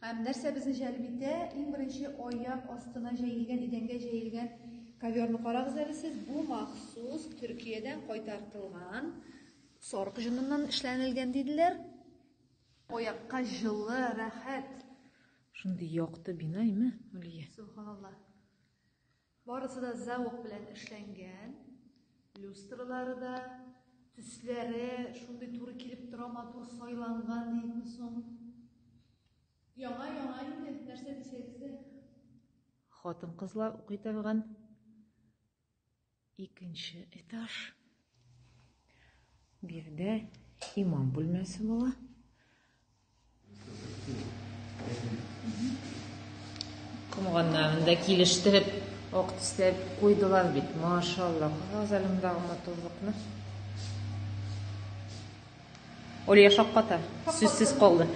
Һәм нәрсә безне җәлеп итә? Иң беренче аяк астына җәелгән, идәнгә җәелгән коверны карагыз әле сез. Бу махсус Төркиядән кайтартылган сарык җоныннан эшләнелгән диделәр. Аякка җылы, рәхәт. Шундый якты бина име, Алия? Субханаллаһ. Барысы да зәвык белән эшләнгән. Люстралары да, төсләре шундый туры килеп тора, матур сайланган дидме соң. Яңа яңа инде, нәрсә дисәгез дә. Хатын-кызлар укый торган икенче этаж. Биредә имам бүлмәсе була. Комганнарында килештереп, ак тисләп куйдылар бит. Машалла, кыз әлемдәге матурлыкны. Олия шакката, сүзсез калды.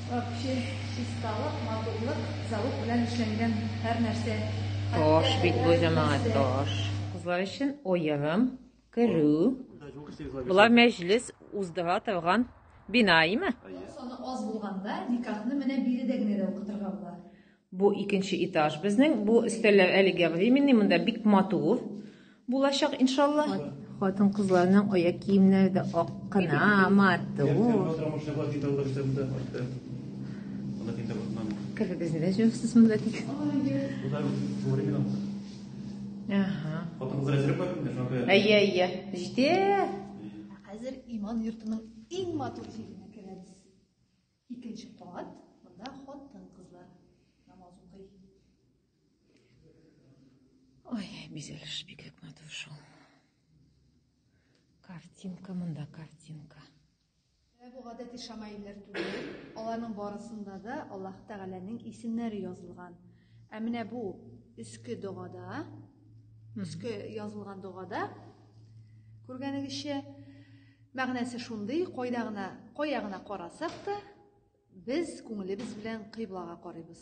Вообще, чисталык, матурлык, залук белән эшләнгән һәр нәрсә. Таш бит бу җәмәгать, таш. Кызлар өчен оерым. Керү. Була мәҗлес уздыра торган бина, име? Саны аз булганда никахны менә биредә генә дә укытырга була. Бу икенче этаж безнең. Бу өстәлләр әлегә временный, монда бик матур булачак иншалла. Хатын кызларның аяк киемнәре дә ак кына, матур. Керегез, нидә җөрсез монда тик? Ага. Хатынкыз әзер бар инде, шуңа күрә. Әйе, әйе. Җитә. Хәзер иман йортының иң матур җиренә керәбез. Икенче кат, монда хатын-кызлар намаз укый. Ой, бизәлеш бик матур шул. Картинка монда, картинка. Менә бу гадәти шамаилләр түгел, аларның барысында да Аллаһ Тәгаләнең исемнәре язылган. Ә менә бу өске догада, өске язылган догада күргәнегезчә мәгънәсе шундый, кайда гына, кая гына карасак та, без күңелебез белән кыйблага карыйбыз.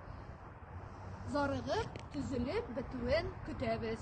Зарыгып, төзелеп бетүен көтәбез.